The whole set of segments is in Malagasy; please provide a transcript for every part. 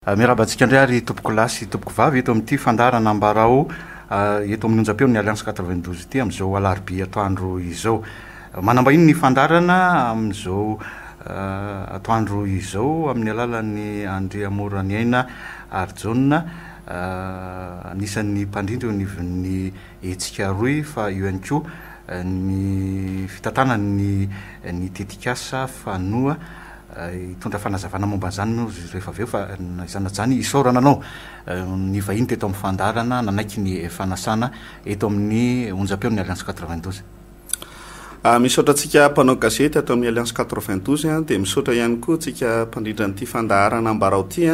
Miarahaba antsika indray ary tompokolahy sy tompokovavy eto amin'ity fandaharana Ambarao eto amin'ny onjam-peon'ny Alliance 92 ity amin'izao alarobia atoandro izao. Manambahiny ny fandaharana amin'izao atoandro izao amin'ny alalan'ny Andriamoraniaina Harijaona anisan'ny mpandrindra eo anivon'ny Hetsika Rohy fa eo ihany koa ny fitantanany ny tetikasa Fanoa Hitondra fanazavana momba an'izany moa izy ireo rehefa avy eo, fa na izany na izany, isaorana anao. Ny vahiny teto amin'ny fandaharana nanaiky ny fanasana eto amin'ny onjam-peon'ny Alliance quatre-vingt-douze. Misaotra antsika mpanao gazety ato amin'ny Alliance quatre-vingt-douze, dia misaotra ihany koa antsika mpandrindra an'ity fandaharana Ambarao ity,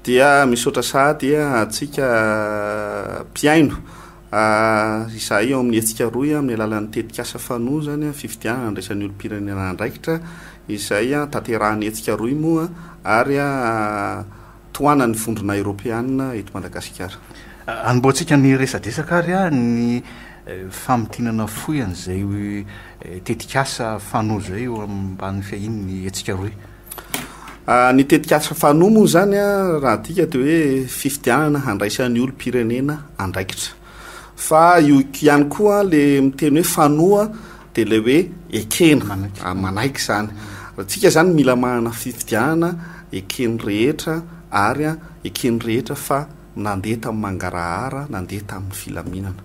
dia misaotra sahady antsika mpihaino. A, Izahay eo amin'ny hetsika rohy amin'ny alalan'ny tetikasa Fano izany ny fifidianana handraisa ny olom-pirenena andraikitra izay tanterahan'ny hetsika rohy moa ary tohanan'ny Vondrona Eoropeana eto Madagasikara. Anombohantsika ny resadresaka ary ny famintinana fohy an'izay tetikasa Fano izay eo ambany fiahian'ny hetsika rohy. Ah, ny tetikasa fano moa izany a, ah, raha adika dia hoe fifidianana handraisan'ny olom-pirenena andraikitra. Fa io ihany koa le miteny hoe fanoa dia le hoe ekena, manaiky, ah, manaiky izany. Ratsika izany mila manana fifidianana eken'ny rehetra ary a, eken'ny rehetra fa Nandeha tamin'ny mangarahara, nandeha tamin'ny filaminana.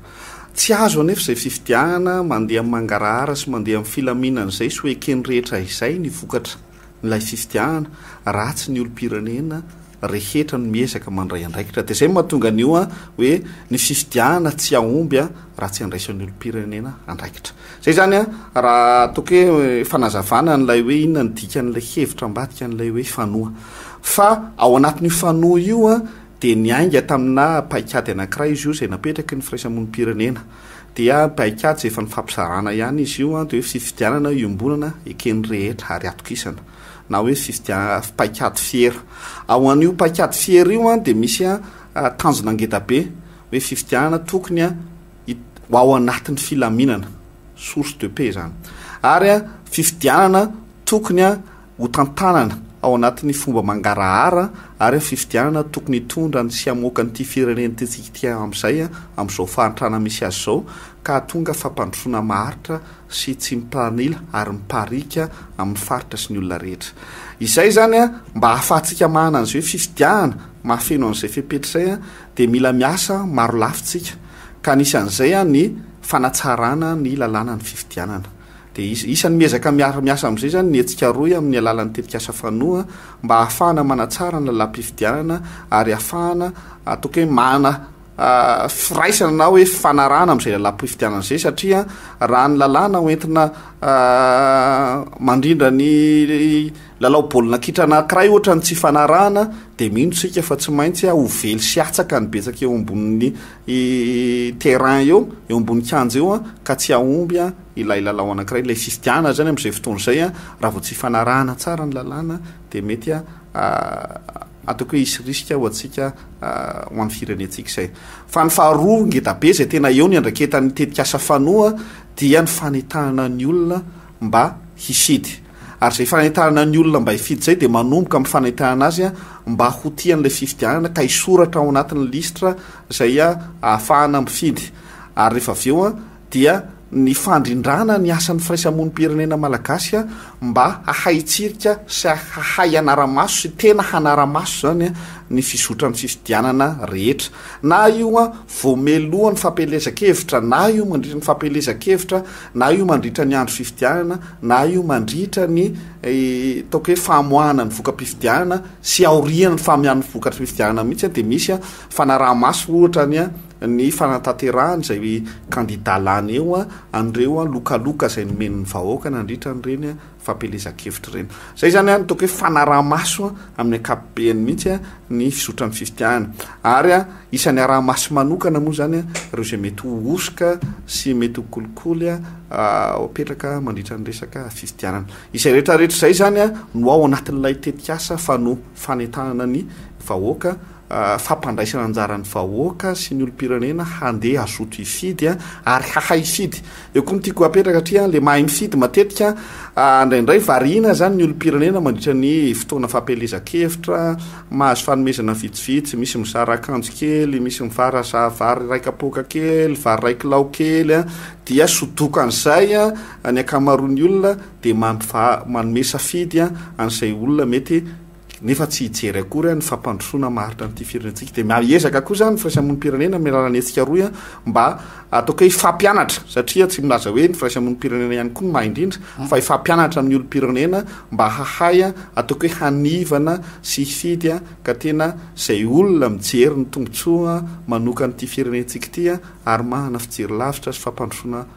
Tsy azo anefa izay fifidianana mandeha amin'ny mangarahara sy mandeha amin'ny filaminana izay sy ho eken'ny rehetra izay ny vokatra n'ilay fifidianana raha tsy ny olom-pirenena rehetra no miezaka mandray andraikitra. Dia izay no mahatonga an'io hoe ny fifidianana tsy hahomby raha tsy andraisan'ny olom-pirenena andraikitra. Zay zany an, raha ataoko hoe fanazavana an'ilay hoe inona ny dikan'ilay hevitra ambadika an'ilay hoe fanoa. Fa ao anatin'io fanoa io an, dia niainga taminà paikady anankiray izy io izay napetraky ny firaisamonim-pirenena. Dia paikady izay efa nifampizarana ihany izy io an, dia hoe fifidianana iombonana eken'ny rehetra ary atokisana. Na hoe fifidia- paikady fiera. Ao an'io paikady fiera io an, dia misy an tanjona ngedabe, hoe fifidianana tokony an, ho ao anatin'ny filaminana, source de paix izany, ary fifidianana tokony ho tantanana ao anatin'ny fomba mangarahara, ary fifidianana tokony hitondra ny sy hamoaka an'ity firenentsika ity amin'izay amin'izao fahantrana misy azy izao, ka hahatonga fampandrosoana maharitra sy tsy mitanila ary mipariaka amin'ny faritra sy ny olona rehetra. Izay izany mba ahafahantsika manana an'izay hoe fifidianana mahafeno an'izay fepetra izay, dia mila miasa marolafy tsika ka anisan'izay ny fanatsarana ny lalànan'ny fifidianana. Dia isan'ny miezaka miara-miasa amin'izay izany ny hetsika rohy amin'ny alalan'ny tetikasa Fanoa mba hahafahana manatsara ny lalàm-pifidianana ary hahafahana ataoko hoe manana firaisana na hoe fifanarahana amin'izay lalàm-pifidianana izay satria raha ny lalàna hoentina mandrindra ny Lalao baolina kitra anankiray ohatra ny tsy ifanarahana dia mino isika fa tsy maintsy ho vely sy hatsaka ny betsaka eo ambonin'ny terrain eo, eo ambonin'ny kianja eo ka tsy hahomby ilay lalao anankiray, ilay fifidianana izany amin'izay fotoana izay raha vao tsy ifanarahana tsara ny lalàna dia mety ataoko hoe hisy risque ho antsika ho an'ny firenentsika izay. Fa ny faharoa ngeda be izay tena eo ny andraiketan'ny tetikasa fanoa dia ny fanentanana ny olona mba hifidy. Ary izay fanentanana ny olona mba hifidy izay dia manomboka amin'ny fanentanana azy mba ho tia an'ilay fifidianana ka hisoratra ao anatin'ny lisitra izay ahafahana mifidy. Ary rehefa avy eo dia ny fandrindrana ny asan'ny firaisamonim-pirenena malagasy mba hahay hitsirika sy hahay hanara-maso sy tena hanara-maso izany ny fizotran'ny fifidianana rehetra. Na io Voamelo ny fampielezan-kevitra, na io mandritra ny fampielezan-kevitra, na io mandritra ny andro fifidianana, na io mandritra ny ataoko hoe famoahana ny voka-pifidianana sy aorian'ny famoahana ny vokatry ny fifidianana mihitsy dia misy fanaraha-maso ohatra ny ny fanatanterahana izay kandida lany eo an'ireo lokaloka izay nomen'ny vahoaka nandritra an'ireny fampielezan-kevitra ireny. Izay izany an, ataoko hoe fanaraha-maso amin'ny ankapobeny mihitsy ny fizotran'ny fifidianana. Ary isan'ny araha-maso manokana moa izany ireo izay mety ho hosoka sy mety ho kolikoly apetraka mandritra ny resaka fifidianana. Izay rehetrarehetra izay izany no ao anatin'ilay tetikasa fano fanentanana ny vahoaka fampandraisana anjaran'ny vahoaka sy ny olom-pirenena handeha hazoto hifidy ary hahay hifidy. Eo koa no tiako hapetraka satria ilay mahay mifidy matetika indraindray variana izany ny olom-pirenena mandritra ny fotoana fampielezan-kevitra, mahazo fanomezana vitsivitsy, misy mizara akanjo kely, misy mivaraza vary iray kapoaka kely, vary iray kilao kely, dia sodoiko an'izay ny ankamaroan'ny olona dia manome safidy an'izay olona mety nefa tsy hijery akory ny fampandrosoana maharitra an'ity firenentsika dia miezaka koa izany ny firaisamonim-pirenena amin'ny alalan'ny hetsika rohy mba ataoko hoe hifampianatra satria tsy milaza hoe ny firaisamonim-pirenena ihany koa no maha indrindra fa hifampianatra amin'ny olom-pirenena mba hahay ataoko hoe hanivana sy hifidy ka tena izay olona mijery ny tombotsoa manokan'ity firenentsika ity ary manana fijery lavitra sy fampandrosoana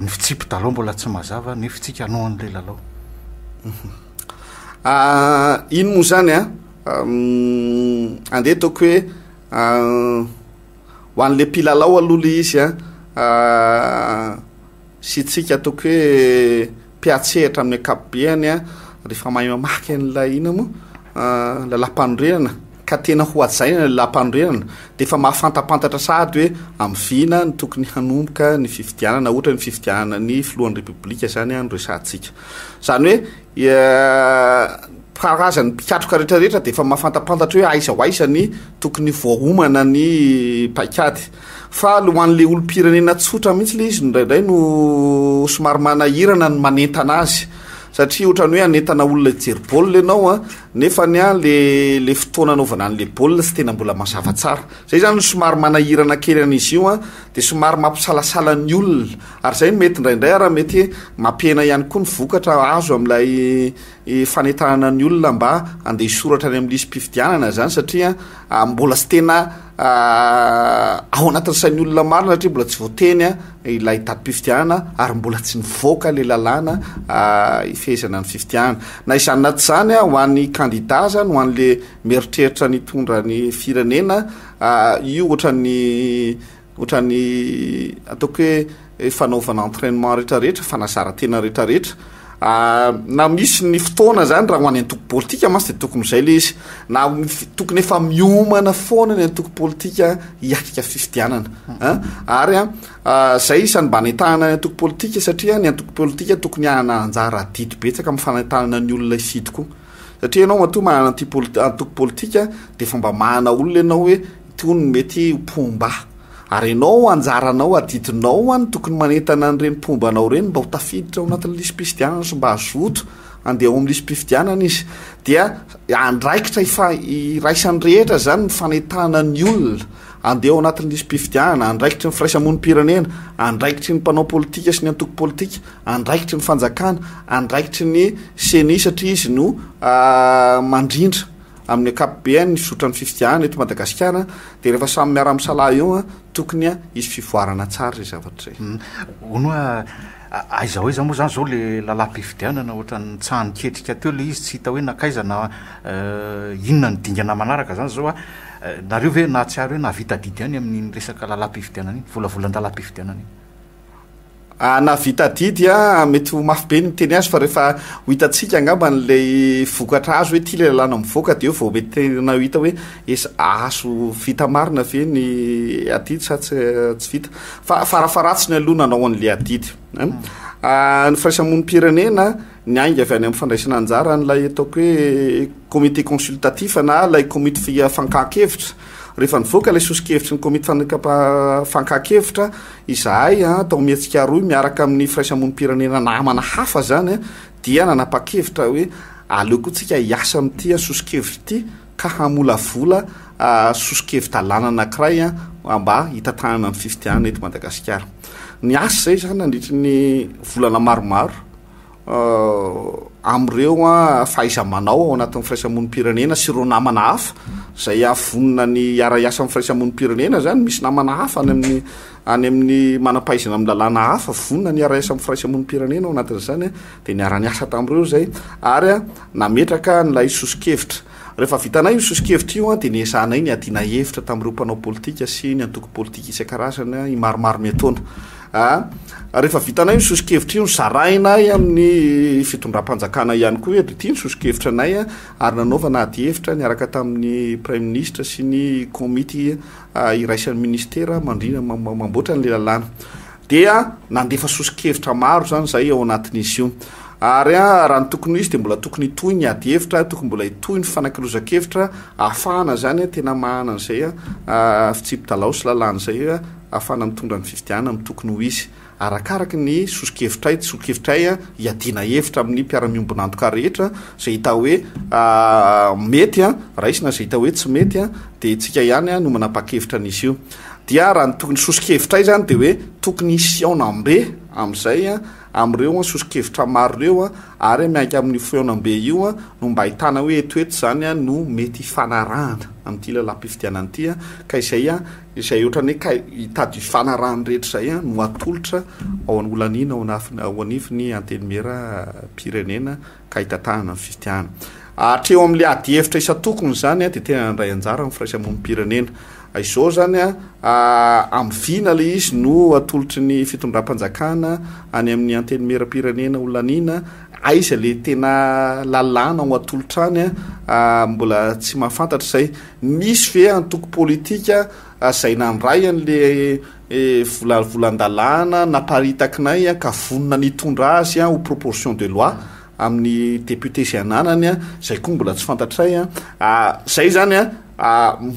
ny fitsipi-dalao mbola tsy mazava ny fitsikanoan'ilay lalao. Ah, ino moa zany a? Ah? Andeha ataoko hoe ah, ho an'ilay mpilalao aloha le izy a sy tsika ataoko hoe mpiantsehatra amin'ny ankapobeny rehefa mahay mamaky an'ilay inona moa ah, lalampanorenana ka tena ho hajaina ilay lalampanorenana dia efa mahafantapantatra sahady hoe amin'ny vina no tokony hanomboka ny fifidianana ohatra ny fifidianana ny filohan'ny repoblika izany no resahantsika izany hoe eh, karazan'ny mpikatroka rehetrarehetra dia efa mahafantapantatra hoe aiza ho aiza ny tokony voahomana ny paikady Fa le ho an'le olom-pirenena tsotra mihitsy le izy indraindray no somary manahirana ny manentana azy satria ohatran'ny hoe hanentana olona hijery baolina ianao a nefa ny a le le fotoana anaovana an'le baolina tsy tena mbola mazava tsara zay zany somary manahirana kely an'izy io a de somary mampisalasala ny olona ary zay no mety indraindray ara mety mampihena ihany koa ny vokatra azo amin'ilay e, fanentanana ny olona mba andeha hisoratra any amin'ny lisi-pifidianana zany satria mbola tsy tena ao anatin'ny sain'ny olona maro na hatria mbola tsy voateny a ilay tadim-pifidianana ary mbola tsy nivoaka le lalàna ifehezana ny fifidianana na izany na tsy izany a ho an'ny kandida zany ho an'le meritreritra ny tondra ny firenena io ohatran'ny ohatran'ny ataoko hoe fanaovana entrainement rehetra rehetra, fanazarantena rehetra rehetra, na misy ny fotoana zany raha ho any antoko politika mantsy de tokony izay le izy, na tokony efa miomana foana ny antoko politika hiatrika fifidianana a, ary a izay isan'ny mba anentahana ny antoko politika satria ny antoko politika tokony hanana anjara adidy betsaka amin'ny fanentanana ny olona hifidy koa, satria ianao matoa manana anti-poli- antoko politika de efa mba manana olona ianao hoe itony no mety ho mpomba. Ary ianao, anjaranao, adidinao an, tokony manentana an'ireny mpomba anao ireny mba ho tafiditra ao anatin'ny lisi-pifidianana sy mba hazoto handeha ao amin'ny lisi-pifidianana izy. Dia andraikitra ifa, iraisan'ny rehetra izany ny fanentana ny olona handeha ao anatin'ny lisi-pifidianana, andraikitry ny firaisamonim-pirenena, andraikitry ny mpanao politika sy ny antoko politika, andraikitry ny fanjakana, andraikitry ny ceni satria izy no mandrindra. Amin'ny ankapobeany ny fizotran'ny fifidianana eto Madagasikara dia rehefa samy miara-misalahy eo tokony hisy fivoarana tsara izay zavatra izay. Hono hoe aiza ho aiza moa izany izao ilay lalam-pifidianana, ohatran'ny nitsaha-niketrika teo ilay izy tsy hita hoe nankaiza na inona no dingana manaraka izany izao a. Nareo ve nahatsiaro hoe nahavita adidy ihany amin'iny resaka lalam-pifidianana iny, volavolan-dalam-pifidianana iny? Ah, nahavita adidy a, mety ho mafy be ny miteny azy fa rehefa ho hitantsika angamba an'ilay vokatra azo hoe ty ilay lalàna mivoaka dia eo vao mety tena ho hita hoe esa- azo vita marina ve ny adidy sa tsy tsy vita fa farafaharatsiny aloha nanao an'ilay adidy an Ah, ny firaisamonim-pirenena ny ainga avy any amin'ny fandraisana anjara an'ilay ataoko hoe comité consultatif na ilay komity fi- fankahan-kevitra Rehefa nivoaka ilay soso-kevitry ny komity fankakevitra, izahay tao Mihetsik'Aroy miaraka amin'ny firaisamonim-pirenena namana hafa izany dia nanapa-kevitra hoe aleo koa tsika hiasa amin'ity soso-kevitra ity ka hamolavola soso-kevi-dalàna anankiray mba hitantanana ny fifidianana eto Madagasikara. Niasa izay izany nandritry ny volana maromaro. amin'ireo fahaiza-manao ao anatin'ny firaisamonim-pirenena sy ireo namana hafa izay avonina ny hiara-hiasa amin'ny firaisamonim-pirenena izany misy namana hafa any amin'ny any amin'ny manam-pahaizana amin'ny lalàna hafa vonina ny hiara-hiasa amin'ny firaisamonim-pirenena ao anatin'izany a dia niara-niasa tamin'ireo izay ary a nametraka an'ilay soso-kevitra rehefa vitanay io soso-kevitra io a dia niezahanay ny adiana hevitra tamin'ireo mpanao politika sy ny antoko politika isan-karazany a i maromaro miataona A, Rehefa vitanay ny soso-kevitra io, zarainay amin'ny fitondram-panjakana ihany koa eto ity ny soso-kevitra anay ary nanaovana adihevitra niaraka tamin'ny Praiminisitra sy ny komity iraisan'ny Ministera mandrina mamboatra an'ilay lalàna. Dia nandefa soso-kevitra maro izany izahay ao anatin'izy io. Ary raha ny tokony ho izy dia mbola tokony hitohy ny adihevitra, tokony mbola hitohy ny fifanakalozan-kevitra ahafahana izany tena mahana an'izay fitsipi-dalao sy lalàna izay ahafahana mitondra ny fifidianana amin'ny tokony ho hisy, arakaraka ny sosokevitray, tsy sosokevitray, hiadiana hevitra amin'ny mpiara-miombon'antoka rehetra, izay hita hoe mety raisina, izay hita hoe tsy mety dia isika ihany no manapa-kevitra an'izy io. Dia raha ny tokony sosokevitray izany dia hoe tokony hisy fihaonambe amin'izay amin'ireo sosokevitra maro ireo ary miainka amin'io fihaonambe io no mba ahitana hoe eto eto izany no mety hifanarahana amin'ity lalam-pifidianana ity ka izay izay ohatran'ny hoe ka hitady hifanarahany rehetra izay an, no atolotra ao an'i Olanina ao anafin- ao anifin'ny Antenimieram-pirenena ka hitantanana ny fifidianana. Hatreo amin'ilay adihevitra isan-tokony izany an, dia tena nandray anjara amin'ny firaisamonim-pirenena. A, Izao izany an, a, amin'ny vina ilay izy no atolotry ny fitondram-panjakana any amin'ny Antenimieram-pirenena Olanina, aiza ilay tena lalàna ho atolotra any an, a, mbola tsy mahafantatra izay. Misy ve antoko politika zay nandray an le volavolan-dalàna naparitakinay ka vonona ny hitondra azy ho proposition de loi amin'ny député zay ananany an, zay koa mbola tsy fantatray an, zay zany an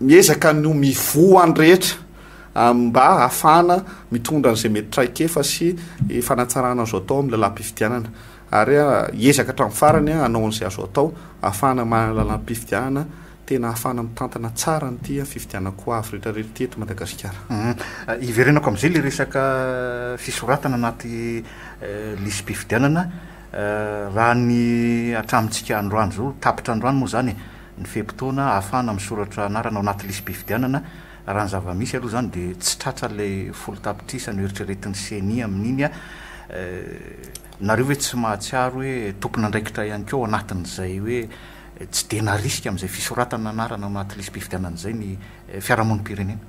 miezaka ny mivoha ny rehetra mba hahafahana mitondra an'izay mety traikefa sy fanatsarana azo atao amin'ny lalam-pifidianana. Ary hiezaka hatramin'ny farany hanao an'izay azo atao ahafahana manana lalam-pifidianana tena ahafahana mitantana tsara an'ity fifidianana ho avy rehetra rehetra ity eto Madagasikara. Hiverenako amin'izay ilay resaka fisoratana anaty lisi-pifidianana. Raha ny hatramintsika androany izao, tapitra androany moa izany ny fe-potoana ahafahana misoratra anarana ao anaty lisi-pifidianana. Raha ny zava-misy aloha izany dia tsy tratra ilay folo tapitrisa noeritreretin'ny ceni amin'iny. Nareo ve tsy mahatsiaro hoe tompon'andraikitra ihany koa ao anatin'izay hoe tsy dia narisika amin'izay fisoratana anarana ao anaty lisi-pifidianana izay ny fiarahamonim-pirenena?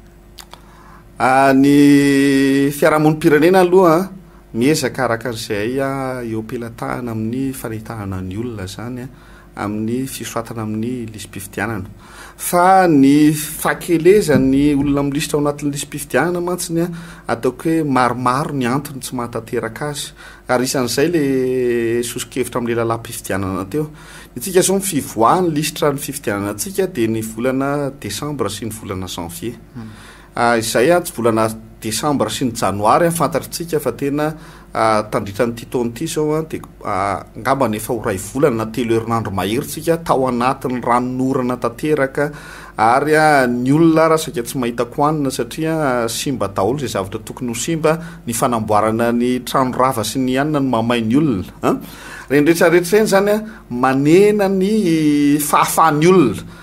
Ny fiarahamonim-pirenena aloha miezaka araka izay eo am-pelatahana amin'ny fanentanana ny olona izany. amin'ny fisoratana amin'ny lisi-pifidianana. Fa ny fahakelezan'ny olona milisitra ao anatin'ny lisi-pifidianana mantsy ny ataoko hoe maromaro ny antony tsy mahatanteraka azy. Ary isan'izay le soso-kevitra amin'ilay lalàm-pifidianana teo. Ny antsika izao ny fivoahan'ny lisitra ny fifidianana antsika dia ny volana desambra sy ny volana janvier. Hmm. Ah, izay ah, tsy volana desambra sy ny janoary ah, fantatritsika fa tena ah, tandritran'ity taona ity izao ah, dia ah, angambany efa ho ray volana na telo herinandro mahery tsika tao anatin'ny ranonorana tanteraka ary ah, ny olona ara saika tsy mahita kohanina satria ah, simba daholo izay zavatra tokony ho simba, ny fanamboarana ny trano rava sy ny anona no mahamay ny olona an. Ireny rehetra rehetra ireny izany ah, manena ny fahafahan'ny olona.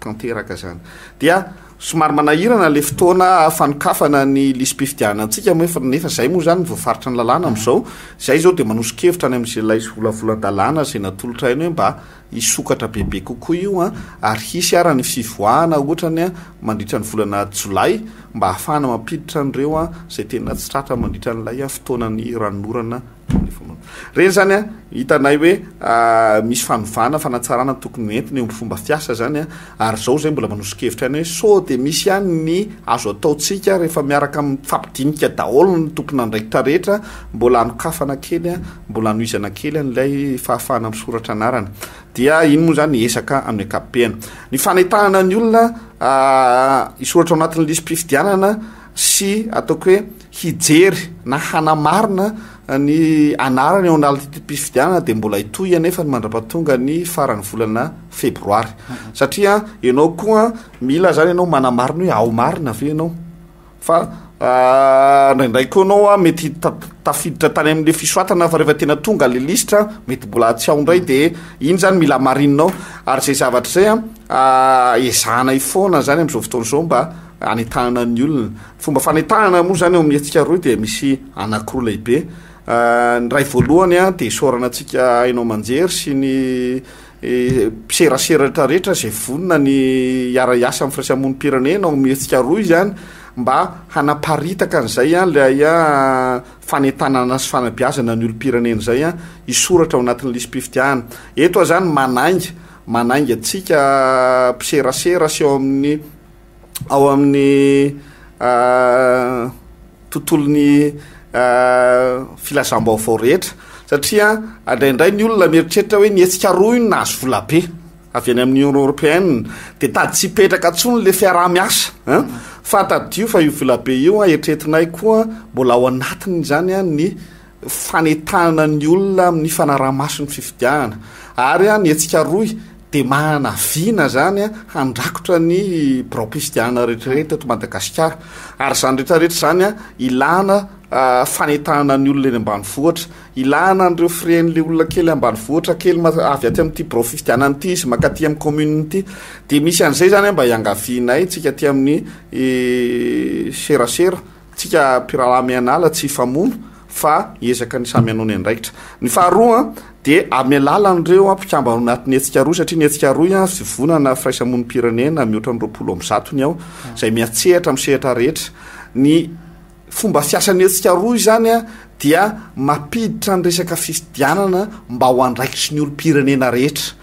tanteraka zany dia somary manahirana le fotoana fanokafana ny lisi-pifidianana antsika moa efa nefa zay moa zany voafaritra ny lalàna amin'izao zay izao dia manoso-kevitra any amin'izay lay volavolan-dalàna zay natolotra haino hoe mba hisokatra bebe kokoa io an ary hisy ara ny fivoahana ohatrany an mandritra ny volana jolay mba hahafahana mampiditra an'ireo an zay tena tsy tratra mandritra an'ilay fotoanan'ny ranonorana Reny zany a, hitanay hoe misy fanovana, fanatsarana tokony ho entina eo amin'ny fomba fiasa zany a, ary izao izay mbola manoso-kevitra ihany hoe sao dia misy ihany ny azo ataontsika rehefa miaraka mifampidinika daholo ny tompon'andraikitra rehetra, mbola hanokafana kely, mbola hanohizana kely an'ilay fahafahana misoratra anarana. Dia iny moa zany ezaka amin'ny ankapobeny. Ny fanentanana ny olona hisoratra ao anatin'ny lisi-pifidianana sy ataoko hoe. hijery na hanamarina ny anarany ao analitim-pifidianana dia mbola hitohy anefa ny mandrapatonga ny faran'ny volana febroary mhm. satria ianao koa mila zany ianao manamarina hoe ao marina ave ianao fa ah, ndraindray koa anao a mety tafiditra tany amle fisoatana fa rehefa tena tonga le listra mety mbola tsy ao ndray de iny zany mila marinao ary zay zavatra zay a ah, ezahana ifoana zany am'zao fotoana zao mba anentanana ny olona Fomba fanetahana moa izany eo amin'ny hetsika rohy dia misy anankiroa lehibe. Ny iray voalohany dia isaorana antsika haino aman-jery sy ny mpiserasera rehetra rehetra izay vonona ny hiara-hiasa amin'ny firaisamonim-pirenena ao amin'ny hetsika rohy izany mba hanaparitaka an'izay ilay fanentanana sy fanabeazana ny olom-pirenena izay hisoratra ao anatin'ny lisi-pifidianana. Eto aho izany manainga, manainga antsika mpiserasera sy ao amin'ny ao amin'ny tontolon'ny filazam-baovao rehetra satria andraindray ny olona mieritreritra hoe ny hetsika roa io no nahazo volabe avy any amin'ny union européenne dia tady tsy hipetraka intsony le fiaraha-miasa a fa tadidio fa io volabe io a eritreretinay koa mbola ao anatiny izany a ny fanentanana ny olona amin'ny fanaraha-maso ny fifidianana ary ny hetsika rohy dia manana vina izany handrakotra ny biraom-pifidianana rehetrarehetra eto Madagasikara ary izany rehetrarehetra izany ilana ah, fanentanana ny olona eny ambanivohitra ilana an'ireo firen'ilay olona kely ambanivohitra kely avy aty amin'ity birao fifidianana ity izy makaty amin'ny commune ity dia misy an'izay izany mba hiangavianay tsika aty amin'ny eh, serasera Tsika mpirahalahy mianala tsy hifamono fa hiezaka ny samy hanao ny andraikitra. Ny faharoa dia amin'ny alalan'ireo mpikambana ao anatin'ny hetsika rohy satria ny hetsika rohy an, fivonana firaisamonim-pirenena mihoatra ny roapolo amby zato ny ao izay miatsehatra amin'ny sehatra rehetra. Ny fomba fiasan'ny hetsika rohy izany an, dia mampiditra ny resaka fifidianana mba ho andraikitry ny olom-pirenena rehetra.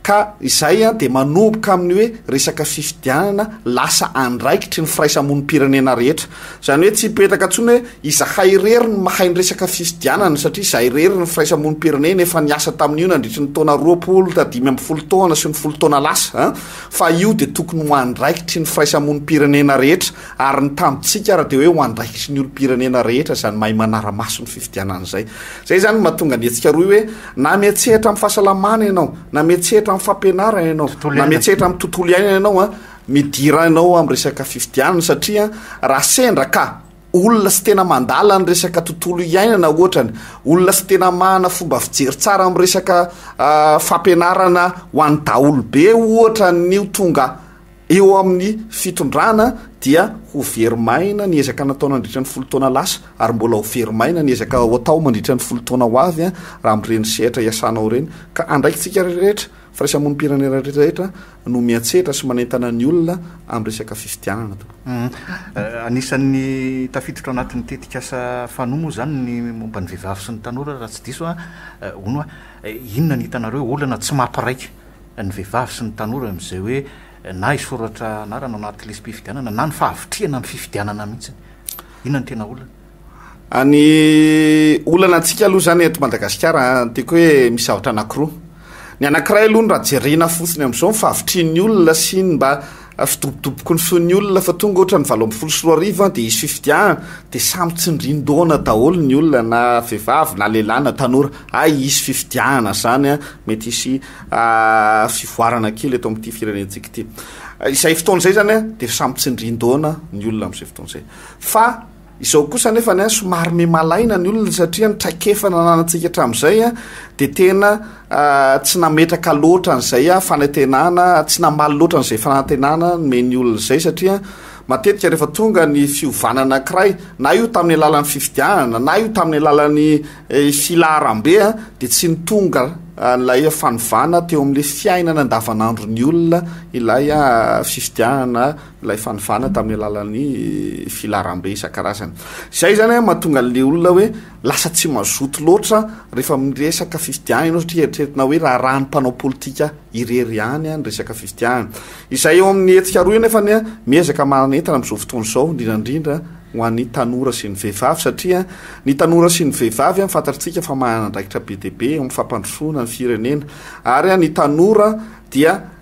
Ka izay dia manomboka amin'ny hoe resaka fifidianana lasa andraikitry ny firaisamonim-pirenena rehetra. Izany hoe tsy hipetraka intsony hoe izahay irery no mahay ny resaka fifidianana satria izahay irery ny firaisamonim-pirenena efa niasa tamin'io nandritry ny taona roapolo ta dimy ambin'ny folo taona sy ny folo taona lasa fa io dia tokony ho andraikitry ny firaisamonim-pirenena rehetra ary ny tamintsika ary dia hoe ho andraikitry ny olom-pirenena rehetra izany mahay manara-maso ny fifidianana izay. Izay izany no mahatonga ny hetsika rohy hoe Na mihetsehatra amin'ny fahasalamana ianao, na mihetsehatra amin'ny fampianarana ianao, na mihetsehatra amin'ny tontolo iainana ianao a, midira ianao amin'ny resaka fifidianana satria raha sendra ka olona sy tena mandala ny resaka tontolo iainana ohatrany, olona sy tena mahana fomba fijery tsara amin'ny resaka fampianarana ho an'ny daholobe ohatra ny ho tonga Eo amin'ny fitondrana dia ho very maina ny ezaka natao nandritra ny folo taona lasa ary mbola ho very maina ny ezaka ho atao mandritra ny folo taona ho avy raha amin'ireny sehatra iasanao ireny ka andraikitsika rehetra, firaisamonim-pirenena rehetra no miantsetra sy manentana ny olona amin'ny resaka fifidianana. Anisan'ny tafiditra ao anatin'ny tetikasa Fano moa izany ny momba ny vehivavy sy ny tanora raha tsy diso aho, hono aho. Inona ny hitanareo olana tsy maha mpiraika ny vehivavy sy ny tanora amin'izay hoe na hisoratra anarana ao anaty lisi-pifidianana na ny fahavitrihana ny fifidianana mihitsy. Inona no tena olana? Any olana antsika aloha izany eto Madagasikara tiako hoe misy zavatra anankiroa. Ny anankiray aloha no raha jerena fotsiny amin'izao ny fahavitrihan'ny olona sy ny mba Afidobodoboky ny feon'ny olona fa tonga ohatra ny valo ambin'ny folo sy roa arivo dia hisy fifidianana dia samy tsindrin-dohana daholo ny olona na vehivavy na lehilahy na tanora hay hisy fifidianana izany a, mety hisy fivoarana kely eto amin'ity firenentsika ity. Izay fotoana izay izany dia samy tsindrin-dohana ny olona amin'izay fotoana izay fa. Izao kosa anefa ny ahy somary miha malaina ny olona satria ny traikefa nananantsika hatramin'izay dia tena tsy nametraka loatra an'izay fanantenana, tsy namaly loatra an'izay fanantenana nomen'ny olona izay satria matetika rehefa tonga ny fiovana anankiray na io tamin'ny alalan'ny fifidianana na io tamin'ny alalan'ny eh, filaharambe ah, dia tsy ny tonga ah, ilay fanovana teo amin'ilay fiainana andavanandron'ny olona ilay ah, fifidianana ilay fanovana tamin'ny alalan'ny filaharambe isan-karazany. Izay izany an, mahatonga an'ilay olona hoe lasa tsy mazoto loatra rehefa miresaka fifidiahana ianao satria eritreretina hoe raharahan'ny mpanao politika irery ihany an, ny resaka fifidiahana. Izay eo amin'ny hetsika roa io nefa ny an, miezaka manentana amin'izao fotoana izao, indrindra indrindra ho an'ny tanora sy ny vehivavy satria ny tanora sy ny vehivavy an, fantatritsika fa manana andraikitra be dia be eo amin'ny fampandrosoana ny firenena. Ary an, ny tanora dia.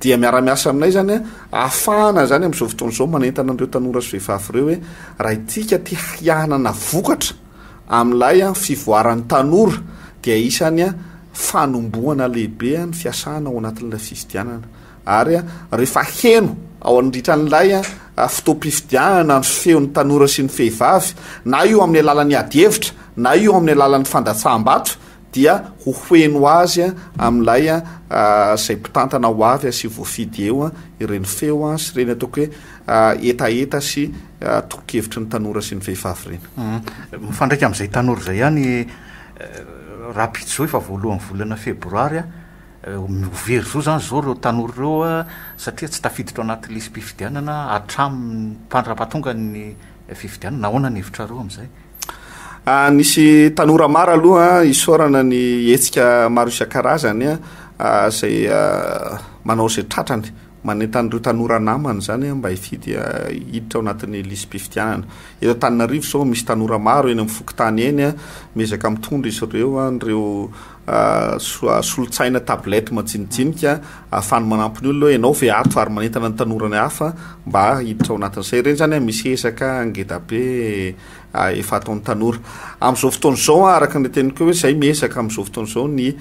dia miara-miasa aminay izany hahafahana izany amin'izao fotoana izao manentana an'ireo tanora sy vehivavy ireo hoe raha isika te hianana vokatra amin'ilay fivoaran'ny tanora dia isany fanombohana lehibe ny fiasana ao anatin'ilay fifidianana ary rehefa heno ao anritran'ilay fotoam-pifidianana ny feon'ny tanora sy ny fehivavy na io amin'ny alalan'ny adihevitra na io amin'ny alalan'ny fandatsaham-bato dia ho hoheno azy amin'ilay izay mpitantana ho avy sy voafidy eo ireny feo sy ireny ataoko hoe hetaheta sy tolo-kevitry ny tanora sy ny vehivavy ireny. Mifandraika amin'izay tanora izay ihany Rapijo efa voalohan'ny volana febroary ho very zo izany izao ireo tanora ireo satria tsy tafiditra ao anaty lisi-pifidianana hatramin'ny mpandrapatonga ny fifidianana. Ahoana ny hevitrareo amin'izay? Ah, nisy tanora maro aloha isaorana ny hetsika maro isan-karazany ah, ah, izay ah, manao izay tratrany manentan'ireo tanora namany izany ah, mba hifidy ah, hiditra ao anatin'ny lisi-pifidianana. Eto Antananarivo izao misy tanora maro eny amin'ny fokontany eny ah, miezaka mitondra izy ireo ah, an'ireo solon-tsaina tablette majinijinika ahafahany manampy ny olona hoe ianao ve ato ary manentana ny tanora ny hafa mba hiditra ao anatin'izay. Ireny izany misy ezaka ngeda be efa ataon'ny tanora. Amin'izao fotoana izao araka ny neteniko hoe izay miezaka amin'izao fotoana izao ny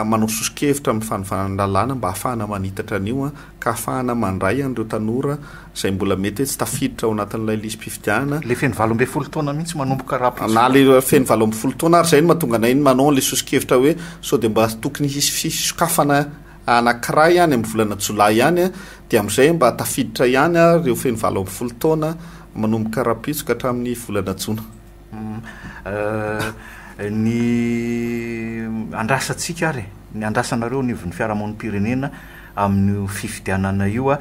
manao soso-kevitra amin'ny fanovana ny lalàna mba ahafahana manitatra an'io. ka hahafahana mandray an'ireo tanora izay mbola mety hoe tsy tafiditra ao anatin'ilay lisi-pifidianana. Ilay feno valo ambin'ny folo taona mihitsy manomboka raha pitsopaka. Na ilay feno valo ambin'ny folo taona ary izay no mahatonga anay ny manao an'ilay soso-kevitra hoe sao dia mba tokony hisy fisokafana anankiray any amin'ny volana jolay any dia amin'izay mba tafiditra ihany ireo feno valo ambin'ny folo taona manomboka rahampitso ka hatramin'ny volana jona. ny andrasantsika ary ny andrasanareo anivon'ny fiarahamonim-pirenena amin'io fifidianana io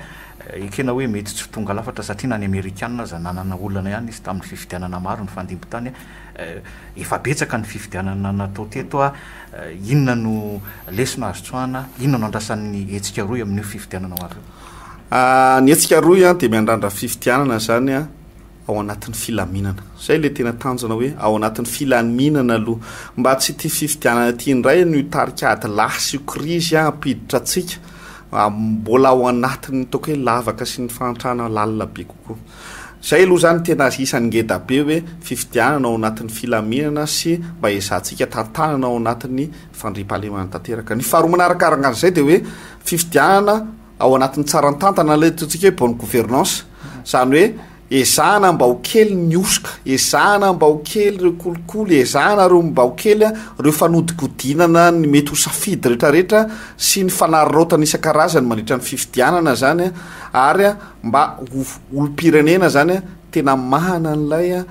ekena hoe mety tsy ho tonga lafatra satria na ny amerikana aza nanana olana ihany izy tamin'ny fifidianana maro nifandimby tany efa betsaka ny fifidianana natao teto a inona no lesona azo tsoahana inona no andrasan'ny hetsika roy amin'io fifidianana ho avy io ny hetsika roy a dia miandrandra fifidianana zany a ao anatin'ny filaminana. Izay ilay tena tanjona hoe ao anatin'ny filaminana aloha. Mba tsy ity fifidianana ity indray no hitarika ady lahy sy krizy hampiditra antsika mbola ao anatin'ny ataoko hoe lavaka sy ny fahantrana lalina be kokoa. Izay aloha izany tena isan'ny ngeda be hoe fifidianana ao anatin'ny filaminana sy mba ezahantsika tantanana ao anatin'ny fandriampahalemana tanteraka. Ny faharoa manaraka araka an'izay dia hoe fifidianana Ao anatin'ny tsaran-tantana ilay ataontsika hoe bonne gouvernance, izany hoe ezahana mba ho kely ny hosoka, ezahana mba ho kely ireo kolikoly, ezahana ireo mba ho kely ireo fanodikodinana ny mety ho safidy rehetrarehetra sy ny fanararaotana isan-karazany mandritra ny fifidianana izany ary mba ho olom-pirenena izany tena mahana an'ilay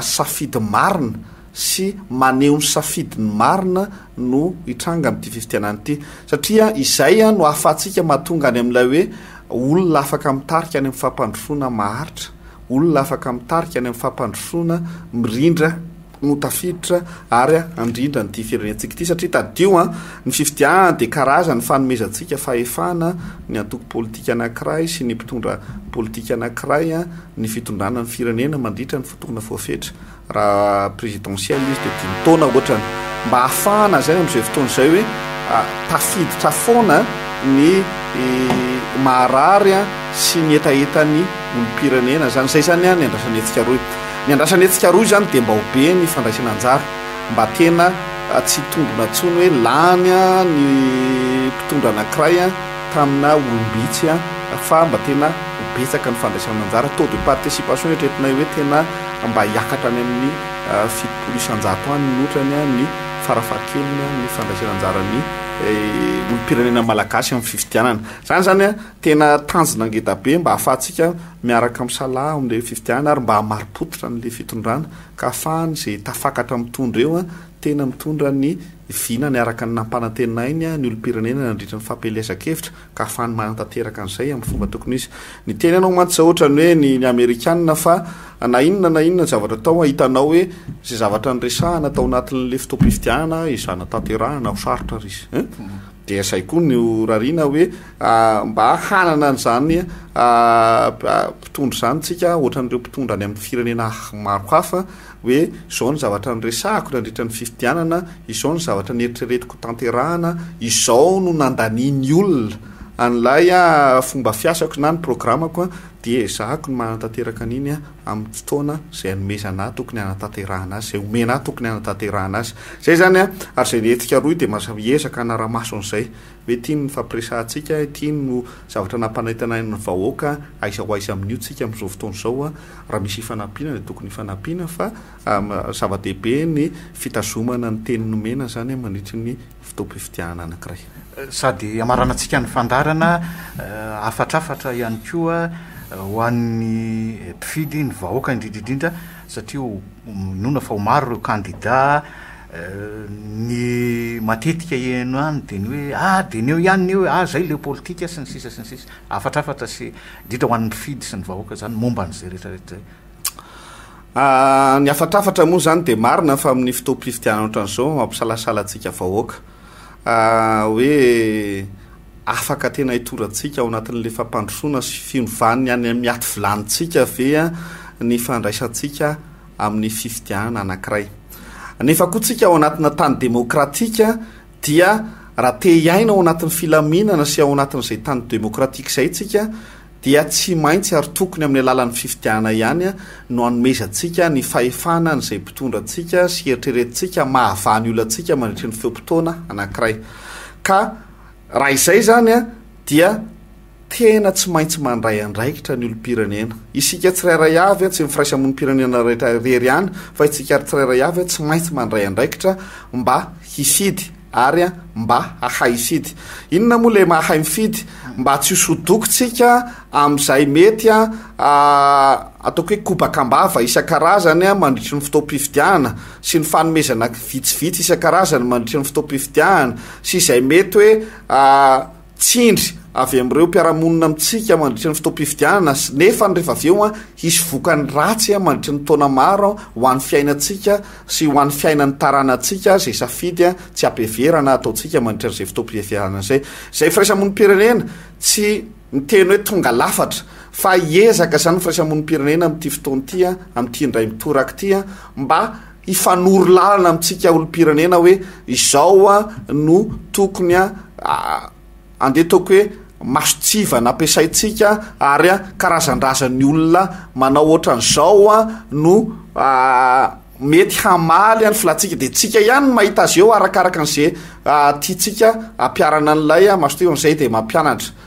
safidy marina. sy maneho ny safidiny marina no hitranga amin'ity fifidianana ity satria izay no ahafahantsika mahatonga any amin'ilay hoe olona afaka mitarika any amin'ny fampandrosoana maharitra, olona afaka mitarika any amin'ny fampandrosoana mirindra no tafiditra ary handrindra an'ity firenentsika ity satria tadidio an, ny fifidianana dia karazany fanomezantsika fahefana ny antoko politika anankiray sy ny mpitondra politika anankiray ny fitondrana ny firenena mandritra ny fotoana voafetra. Raha présidentielle izy dia dimy taona ohatrany mba hahafahana zay amin'izay fotoana izay hoe tafiditra foana ny maharary sy ny hetahetan'ny olom-pirenena zany. Zay zany ny andrasan'i Hetsika Roy. Ny andrasan'i Hetsika Roy zany dia mba ho be ny fandraisana anjara mba tena tsy hitombina intsony hoe lany ny mpitondra anankiray tamina olom-bitsy fa mba tena ho betsaka ny fandraisana anjara. Taux de participation eritreretinay hoe tena mba hiakatra any amin'ny fitopolo isan-jato any ny otrany ny farafahakeliny amin'ny fandraisana anjaran'ny olom-pirenena malagasy amin'ny fifidianana. Izany izany tena tanjona ngeda be mba hahafahantsika miaraka misalaha amin'ilay fifidianana ary mba hamari-pototra an'ilay fitondrana ka hahafahany izay tafakatra mitondra eo tena mitondra ny vina niaraka ny nampanantenainy ny olom-pirenena nandritra ny fampielezan-kevitra ka hafahany manatanteraka an'izay amin'ny fomba tokony izy. Ny teny anao mantsy izao ohatrany hoe ny ny amerikana fa na inona na inona zavatra atao hitanao hoe izay zavatra niresahana tao anatin'le fotoam-pifidianana izana tanterahana ho sarotra ry izy eh? dia izay koa ny horariana hoe ah, mba hanana an'izany ah, ah, mpitondra izany tsika ohatran'ireo mpitondra any amin'ny firenena maro hafa hoe izao ny zavatra niresahako nandritra ny fifidianana, izao ny zavatra neritreretiko hotanterahana, izao no nandanian'ny olona an'ilay fomba fiasako na ny programako, dia ezahako ny manatanteraka an'iny amin'ny fotoana izay anomezana ahy tokony hanatanterahana azy, izay omena ahy tokony hanatanterahana azy. Izay izany an! Ary izay hetsika rohy dia mizaka hanara-maso an'izay. Ve tiany ny fampiresahantsika? Tiany no zavatra nampanentana ny vahoaka aiza ho aiza amin'io tsika amin'izao fotoana izao? Raha misy ifanampiana dia tokony ifanampiana fa zava-dehibe ny fitazomana ny teny nomena izany mandritry ny fotoam-pifidianana anankiray. Sady hamaranantsika ny fandaharana, hafatrafatra ihany koa ho an'ny mpifidy, ny vahoaka indrindra indrindra satria minoana fa ho maro ireo kandida, Ny matetika heno ihany dia ny hoe ah dineo ihany ny hoe ah izay leo politika sy ny sisa sy ny sisa. Hafatrafatra sy indrindra ho an'ny mpifidy sy ny vahoaka izany momba an'izay rehetrarehetra izay. Ny hafatrafatra moa izany dia marina fa amin'ny fotoam-pifidianana ohatran'izao mampisalasala antsika vahoaka hoe afaka tena hitorantsika ao anatin'ilay fampandrosoana sy fiovan'ny any amin'ny aty vilanintsika ve ny fandraisantsika amin'ny fifidianana anankiray. Nefa koa tsika ao anatina tany demokratika dia raha te hiaina ao anatin'ny filaminana sy ao anatin'izay tany demokratika izay tsika dia tsy maintsy ary tokony amin'ny alalan'ny fifidianana ihany no anomezantsika ny fahefana an'izay mpitondra antsika sy eritreretintsika mahavany ny olantsika mandritry ny feom-potoana anankiray. Ka raha izay izany dia Tena tsy maintsy mandray andraikitra ny olom-pirenena. Isika tsirairay avy, tsy ny firaisamonim-pirenena rehetra irery ihany, fa isika ary tsirairay avy tsy maintsy mandray andraikitra mba hisidy ary mba hahay hisidy. Inona moa ilay mahay mifidy? Mba tsy hosodokontsika amin'izay mety ataoko hoe kobaka am-bava isan-karazany mandritry ny fotoam-pifidianana sy ny fanomezana vitsivitsy isan-karazany mandritry ny fotoam-pifidianana sy izay mety hoe tsindry avy amin'ireo mpiara-monina amintsika mandritra ny fotoam-pifidianana sy nefa rehefa avy eo hisy vokany ratsy mandritra ny taona maro ho an'ny fiainantsika sy ho an'ny fiainan'ny taranantsika izay safidy tsy am-piheverana ataontsika mandritra an'izay fotoam-pifidianana izay. Izay firaisamonim-pirenena tsy miteny hoe tonga lafatra fa hiezaka izany ny firaisamonim-pirenena amin'ity fotoana ity, amin'ity indray mitoraka ity mba hifanoro lalana amintsika olom-pirenena hoe izao no tokony handetaoko hoe mason-tsiva nampiasaintsika ary karazan-drazan'ny olona manao ohatran'izao no mety hamaly ny filantsika dia tsika ihany no mahita azy eo arakaraka an'izay tiantsika hampiharana an'ilay mason-tsiva amin'izay dia mampianatra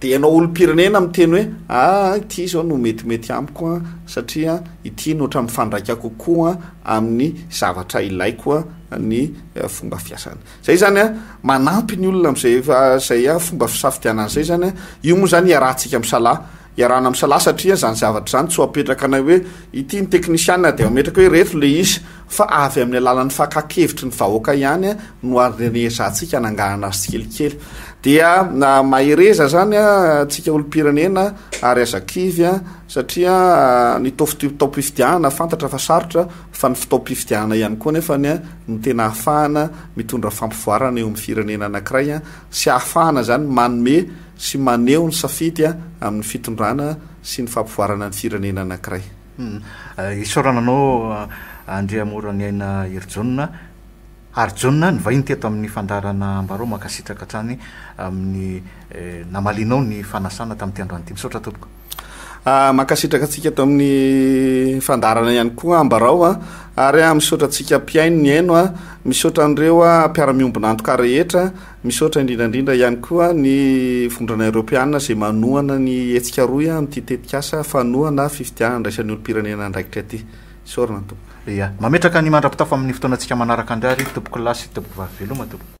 Dia ianao olom-pirenena miteny hoe aa ity izao no metimety amiko an, satria ity no ohatran'ny mifandraika kokoa amin'ny zavatra ilaiko an, ny fomba fiasany. Izay izany an, manampy ny olona amin'izay efa izay an, fomba fisafidianana izay izany an, io moa izany iarahantsika misalahy, iarahana misalahy satria izany zavatra izany tsy ho apetraka anay hoe ity ny teknisiana dia ametraka hoe ireto ilay izy, fa avy amin'ny alalan'ny fakan-kevitry ny vahoaka ihany no arenesantsika anangahana azy tsikelikely. Dia mahereza izany antsika olom-pirenena ary aza kivy satria ny fotoam-pifidianana fantatra fa sarotra fa ny fotoam-pifidianana ihany koa nefa ny no tena ahafahana mitondra fampivoarana eo amin'ny firenena anankiray sy ahafahana izany manome sy maneho ny safidy amin'ny fitondrana sy ny fampivoarana ny firenena anankiray. Isaorana anao Andriamoraniaina Herijonona Harijonona nivahiny teto amin'ny fandaharana Ambarao mankasitraka hatrany amin'ny namalianao ny fanasana tamin'ity androany ity. Misaotra tompoko. Mankasitraka antsika eto amin'ny fandaharana ihany koa Ambarao a ary misaotra antsika mpihaino nihaino a, misaotra an'ireo mpiara-miombon'antoka rehetra. Misaotra indrindra indrindra ihany koa ny Vondrona Eoropeana izay manohana ny hetsika rohy amin'ity tetikasa fanohana fifidianana andraisan'ny olom-pirenena andraikitra ity. Isaorana ny Tompo. Ia. Mametraka ny mandra-pitafo amin'ny fotoanantsika manaraka indray àry Tompokolahy sy Tompokovavy Veloma Tompoko.